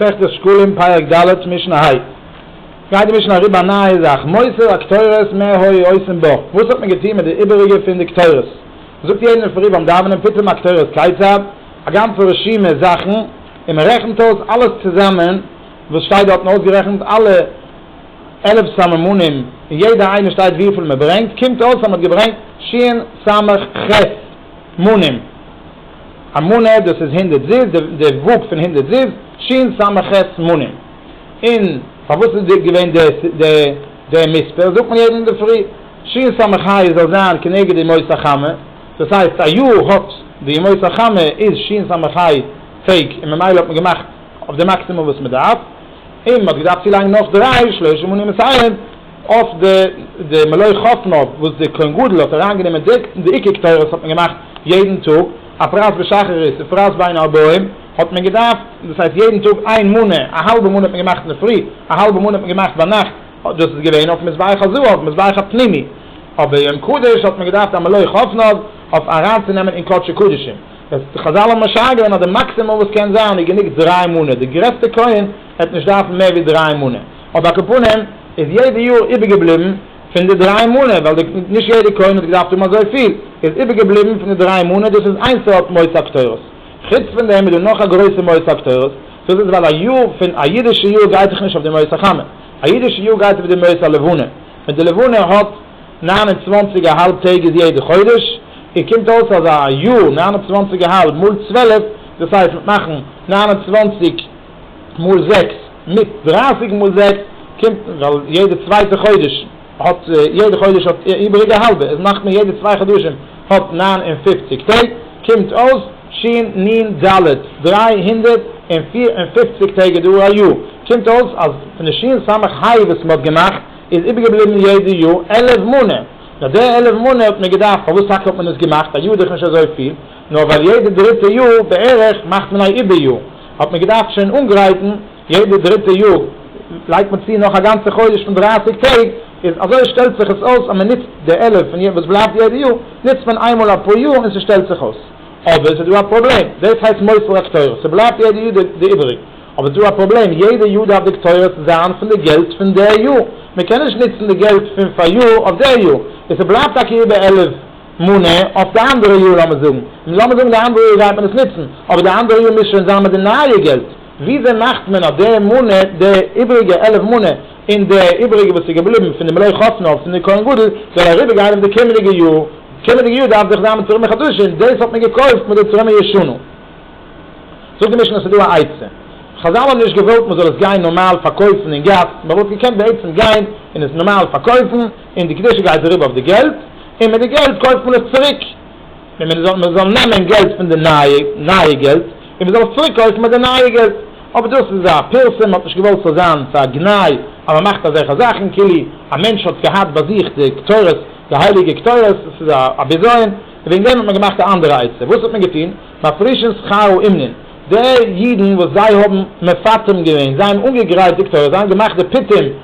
מסכת שקלים פרק ד' משנה ה גייט די משנה אריבער א נייע זאך מוסר הקטורת מה היו עושים בה וואס האט מען געטון מיט די איבעריגע פון די קטורת מ'זאגט יעדן אין פרי ביים דאווענען פתאום הקטורת כיצד א גאנצע רשימה זאכן און מ'רעכנט אויס אלעס צוזאמען וואס שטייט דארטן אויסגערעכנט אלע עלף סממנים און יעדע איינע שטייט וויפיל מ'ברענגט קומט אויס אז מ'האט געברענגט ש ס מ ח מנים. א מנה דאס איז הונדערט זיז, די וואג פון הונדערט זיז, ש ס ח מנים. און פארוואס איז די געווען די די מספר, זאגט מען יעדן אינדערפרי, ש ס ח י זאל זיין כנגד ימות החמה, דאס הייסט א יאר האט די ימות החמה איז ש ס ח י טעג, און ממילא האט מען געמאכט אויף די מאקסימום וואס מען דארף, און מען האט געדארפט צולייגן נאך דריי שלושה מנים מסייעין. אויף די די מלוה חותמא וואס די כהן גדול האט אריין גענומען די די עיקר קטורת האט מען געמאכט יעדן טאג א פרס בשחרית א פרס בין ארבעים האט מען געדארפט דאס הייסט יעדן טאג איין מנה א האלבע מנה האט מען געמאכט אינדערפרי א האלבע מנה האט מען געמאכט ביינאכט דאס איז געווען אויף מזבח הזהב אויף מזבח הפנימי אבער יום קדוש האט מען געדארפט א מלוה חותמא אויף אריינצונעמען אין קדשי קדשים וועסט חזל האבן משער געווען אז די מאקסימום וואס קען זיין איז גענוג דריי מנה די גרעסטע כהן וועט נישט דארפן מער ווי דריי מנה. אויף א קופונים איז יעדע יאר איבערגעבליבן פון די דריי מנה ווייל די נישט יעדע קונה האט געדארפט האבן אזויפיל איז איבערגעבליבן פון די דריי מנה דאס איז איין סארט מוסר הקטורת חוץ פון דעם איז דא נאך א גרויסע מוסר הקטורת דאס איז ווייל א יאר פון א אידישע יאר גייט זיך נישט אויף די מוסר חמה א אידישע יאר גייט אויף די מוסר לבנה ווען די לבנה האט נײַן און צוואַנציק א האלב טעג איז יעדע חודש און קומט אויס אז א יאר נײַן און צוואַנציק א האלב מאל צוועלף דאס הייסט מיט מאכן נײַן און צוואַנציק מאל זעקס, מיט דרייסיג מאל זעקס קומט, ווייל יעדע צווייטע חודש האט, יעדע חודש האט איבעריג א האלבע, איז מאכט מען יעדע צוויי חדשים האט נײַן און פֿופֿציק טעג, קומט אויס ש נ ד, דרײַ הונדערט און פֿיר און פֿופֿציק טעג איז דא א יאר, קומט אויס אז פון די שין סמך היי וואס מען האט געמאכט, איז איבערגעבליבן יעדע יאר עלף מנה, נאר די עלף מנה האט מען געדארפט, פארוואס טאקע האט מען עס געמאכט, א יאר איז דאך נישט אזויפיל. נאר ווייל יעדע דריטע יאר בערך מאכט מען א איבער יאר, האט מען געדארפט שוין אנגרייטן יעדע דריטע יאר לייגט מען צו נאך א גאנצע חודש פון דרײַסיק טעג, איז אזוי שטעלט זיך עס אויס אז מען נוצט די עלף פון וואס בלייבט יעדע יאר נוצט מען איינמאל א פאר יאר און ס'שטעלט זיך אויס. אבער ס'דא א פראבלעם, דאס הייסט מוסר הקטורת, ס'בלייבט יעדע יאר די איבעריג, אבער ס'דא א פראבלעם, יעדע יאר דארף די קטורת זיין פון די געלט פון די יאר, מען קען נישט נוצן די געלט פון פאריאר אויף די יאר, איז ס'בלייבט טאקע איבער עלף. מונה, אויף די אנדערע יאר לאמיר זאגן, נו לאמיר זאגן די אנדערע יאר גייט מען עס נוצן, אבער די אנדערע יאר מוז שוין זיין מיט די נייע געלט, וויאזוי מאכט מען אז די מונה, די איבעריגע עלף מונה, און די איבעריגע וואס איז געבליבן פון די מלוה חותנו פון די כהן גדול, זאל אריבער גיין אויף די קומענדיגע יאר, קומענדיגע יאר דארף דאך זיין מיט צורימה חדשים, דאס האט מען געקויפט מיט די צורימה ישנה. זאגט די משנה ס'איז דא א עצה, חזל האבן נישט געוואלט מען זאל עס גיין נארמאל פארקויפן אין גאס, מען וואלט געקענט בעצם גיין און עס נארמאל פארקויפן, און די קדושה גייט אריבער אויף די געלט, און מיט די געלט קויפט מען עס צוריק, און מען זאל מען זאל נעמען געלט פון די נייע נייע געלט, און מען זאל עס צוריק קויפן מיט די נייע געלט, אבער דאס איז א פירסום, מען האט נישט געוואלט ס'זאל זיין ס'איז א גנאי אז מען מאכט אזעלכע זאכן, כאילו א מענטש האט געהאט ביי זיך די קטורת, די הייליגע קטורת, עס איז א בזיון, און וועגן דעם האט מען געמאכט א אנדערע עצה, וואס האט מען געטון, מפרישין שכרו אמנון, די אידן וואס זיי האבן מפטם געווען, זיי האבן אנגעגרייט די קטורת, זיי האבן געמאכט די פתים,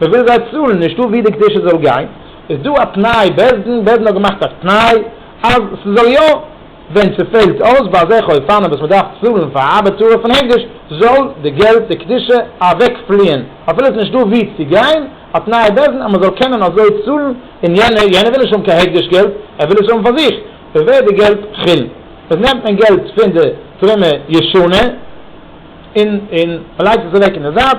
מ'וויל זיי צאלן, נישטא ווי די קדושה זאל גיין, איז דא א תנאי, בית דין, בית דין האט געמאכט א תנאי אז ס'זאל יא, ווען ס'פעלט אויס ביי אזעלכע אופנים וואס מ'דארף צאלן פאר א ארבעט תורה פון הקדש, זאל די געלט, די קדושה, אוועק פליען, אפילו עס איז נישטא ווי צו גיין, א תנאי בית דין אז מ'זאל קענען אזוי צאלן, און יענער, יענער וויל נישט האבן קיין הקדש געלט, ער וויל עס האבן פאר זיך, ווי ווערט די געלט חולין? עס נעמט מען געלט פון די תרומה ישנה, און מ'לייגט עס אוועק אין די זייט,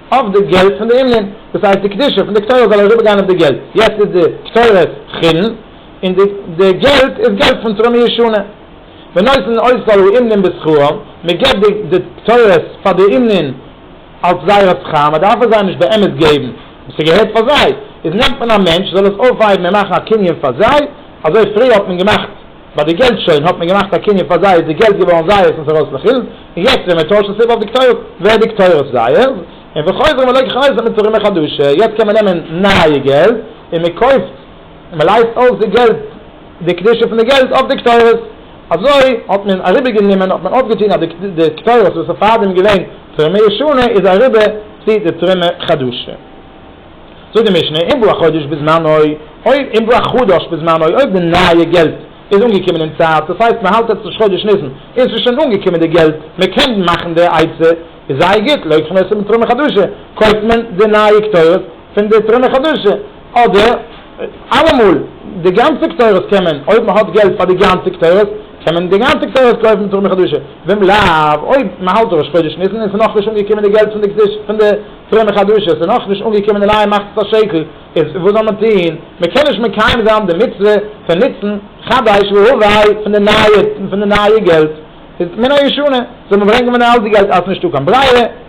אויף די געלט פון די אומנין, דאס הייסט די קדושה פון די קטורת זאל אריבער גיין אויף די געלט, יעצט איז די קטורת חולין און די די געלט איז געלט פון תרומה ישנה, ונותן אותו לאומנין בשכרם, מען געבט די די קטורת פאר די אומנין אלס זייער שכר, מען דארף עס זיי נישט באמת געבן, ס'געהערט פאר זיי, איז נעמט מען א מענטש זאל עס אויפהייבן און מאכן א קנין פאר זיי, אזוי פריער האט מען געמאכט. ביי די געלט שוין האט מען געמאכט א קנין פאר זיי איז די געלט געווארן זייערס און ס'רויס לחילן, און יעצט ווען מען טוישט עס איבער אויף די כתובות ווערט די כתובות זייערס, און וחוזרים אלי ככלות און מען צורימען חדשה, יעצט קען מען נעמען נייע געלט און מען קויפט און מען לייזט אויס די געלט די קדושה פון די געלט אויף די כתובות, אזוי האט מען אריבערגענומען האט מען אויפגעטון אז די כתובות וואס איז פארדעם געווען תרומה ישנה איז אריבער צו די תרומה חדשה. זאגט די משנה, אין בא א חדש בזמנו, אויב אין בא א חדש בזמנו, אויב די נייע געלט איז אנגעקומען אין צייט, דאס הייסט מען האלט עטס נישט חודש ניסן, און ס'איז שוין אנגעקומען די געלט, מען קען מאכן די עצה, איז זייער גוט, לא יקחו נסים מתרומה חדשה, קויפט מען די נייע קטורת פון די תרומה חדשה, אדער אלעמאל, די גאנצע קטורת קען מען, אויב מען האט געלט פאר די גאנצע קטורת, קען מען די גאנצע קטורת קויפן תרומה חדשה, ואם לאו, אויב מען האלט ראש חודש ניסן און ס'איז נאכנישט אנגעקומען די געלט פון די פרומע חדשים, ס'איז נאך נישט אנגעקומען די נייע מכת השקל, איז וואס זאל מען טון? מען קען נישט מקיים זיין די מצוה פון נוצן חדש והווי פון די נייע פון די נייע געלט, איז מן הישנה זאל מען ברענגען פון די אלטע געלט, אז נישטא קיין ברירה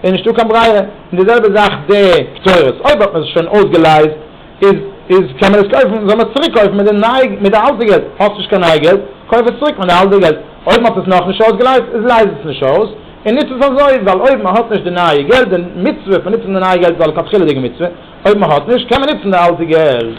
איז נישטא קיין ברירה, און די זעלבע זאך די פטורות, אויב האט מען עס שוין אויסגעלייזט. איז איז קען מען עס קויפן זאל מען עס צוריק קויפן מיט די נייע מיט די אלטע געלט, האסט נישט קיין נייע געלט קויף עס צוריק מיט די אלטע געלט, אויב מ'האט עס נאך נישט אויסגעלייזט איז לייז עס נישט אויס און ניץ עס אזוי, ווייל אויב מ'האט נישט די נייע געלט די מצוה פון ניצן די נייע געלט איז א לכתחילה'דיגע מצוה, אויב מ'האט נישט קען מען ניצן די אלטע געלט.